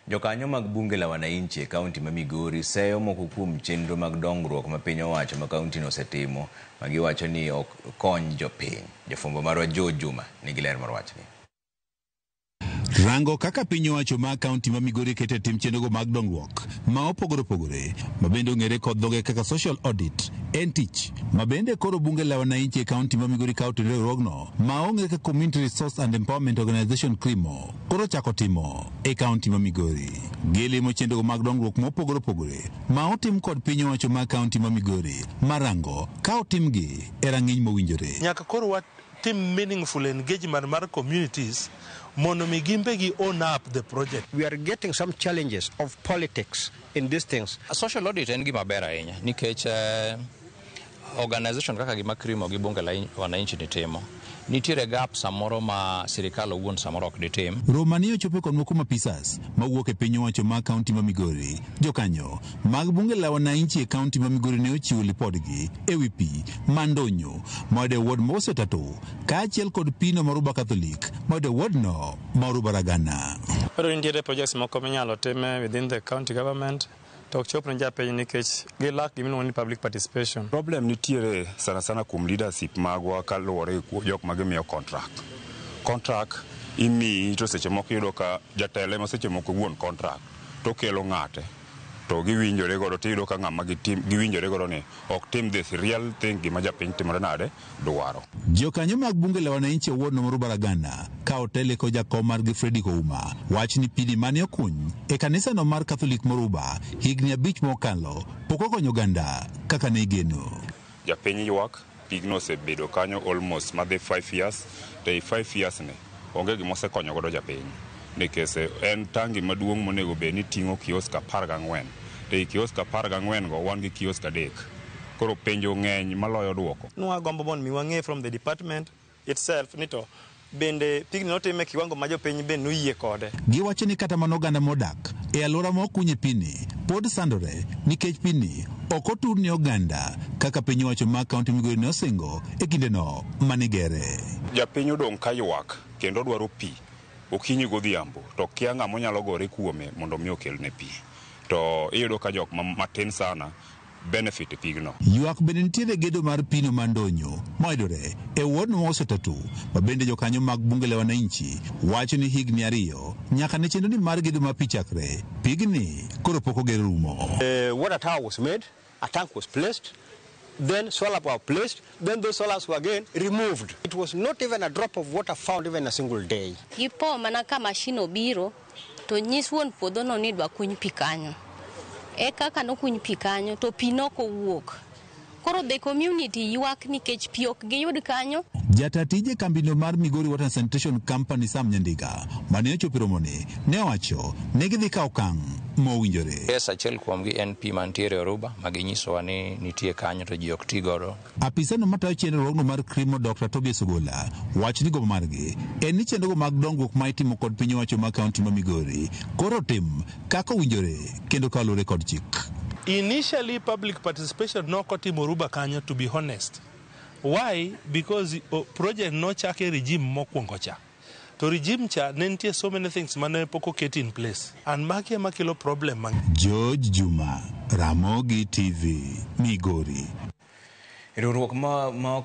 Jokanyo mag Bunge la Wananchi e kaunti ma Migori seyo moko kuom chenro mag dongruok ma piny owacho ma kauntino osetimo ma giwacho ni ok kony jopiny. Jafwambo marwa Joe Juma nigi ler mar wachni. Rango kaka piny owacho ma kaunti ma Migori keto e tim chenrogo mag dongruok ma opogore opogore ma bende ong'ere kod dhoge kaka social audit en tich ma bende koro Bunge la Wananchi e kaunti ma Migori kawo otene riwruogno ma ong'ere kaka Community Resource and Empowerment Organization, CREEMO. koro ochako timo e kaunti ma Migori. Gilimo chenrogo mag dongruok mopogore opogore ma otim kod piny owacho ma kaunti ma Migori marango ka otimgi e rang'iny mowinjore. Nyaka koro wa tim meaningful engagement mar communities mondo mi gimbe gi own up the project. We are getting some challenges of politics in these things. Social audit en gima ber ahinya nikech eh, Organization kaka gima Krimo gi Bunge la Wananchi ni timo, nitiere gap samoro ma sirikal owuon samoro ok ditim. Roma ni ochopo konwa kuom apisas mawuok e piny owacho ma kaunti ma Migori. Jokanyo mag Bunge la Wananchi e kaunti ma Migori ne ochiwo lipodgi e wi pi ma ndonyo ma oyudo e ward ma Osetato kaachiel kod pino ma Oruba Catholic ma oyudo e ward no ma Oruba Ragana. Koro nitiere projects moko minyalo time within the county government. to ok chop ne japiny nikech gilak gima iluongo ni public participation. Problem nitiere sana sana kuom leadership magwa kaluwore gi jok ma gimiyo contract. Contract imiyi to seche moko iyudo ka jatelo ema seche moko wuon contract to okelo ng'ate to giwinjore godo to iyudo ka ng'ama giwinjore godo ni ok tim this real thing gima japiny timore nade. dwaro. Jokanyo mag bunge la wananchi e ward nomoro Baragana ka otele kod jakom margi Fredrick Ouma wach ni pidi mane okuny e kanisa no mar Catholic Moruba higni abich mokalo pok okonyo oganda kaka ne igeno. Japiny ywak, pigno osebedo kanyo almost madhi five years to ei five years ni, Onge gima osekonyo godo japiny nikech en tangi maduong' monego bed ni ting'o kiosk apar gang'wen to ei kiosk apar gang'wen go wan gi kiosk adek. Koro penjo ng'eny maloyo duoko. Nwa gombo mond mi wang'e from the department itself ni to bende pigni notim e kiwango ma jopiny be noyie kode. Giwacho ni kata mana oganda modak e aluora ma okunye pi ni pod sandore nikech pi ni ok otur ne oganda kaka piny owacho ma kaunti Migori ne osingo e kinde no. mane gere. Japiny odong' ka ywak kendo odwaro pi okinyi godhiambo to okia ng'ama onyalo gore kuome mondo mi okelne pi. To iyudo ka jok ma matin sana benefit e pigno. Ywak bende nitiere e gedo mar pino ma Ndonyo mayudore e ward ma Wasetatu ma bende jokanyo mag Bunge la Wananchi wacho ni higni ariyo nyaka ne chenro ni mar gedo mar pi chakre, pigni koro pok oger rumo. Water tower was made A tank was placed, then solar were placed, then those solars were again removed. It was not even a drop of water found even a single day. Gipo mana ka mashin obiro to nyis wuon puodhono ni idwa kuny pi kanyo. E kaka nokuny pi kanyo to pi nok owuok. Koro the community ywak nikech pi ok giyud kanyo. Jata tije kambino mar Migori Water and Sanitation Company Sam Nyandiga mane ochopo e romoni ne owacho ni gidhi kawo okang' ma owinjore. Yes, achiel kuomgi en pi mantiere e oruba ma ginyisowa ni nitie kanyo to ji ok ti godo. Apisano matayo chenrruogno mar CRIMO Dokta Tobias Ogolla wacho ni gombo margi en ni chenrogo mag dongruok ma itimo kod piny owacho ma kaunti ma Migori koro otim kaka owinjore kendo kaluwore kod chik. Initially public participation nok otimo Oruba kanyo to be honest. Why? Because project nochak e regime mokuongo cha. To regime cha ne nitie so many things mane pok oket in place and magi ema kelo problem mang'eny. George Juma, Ramogi TV, Migori. Riwruok ma ok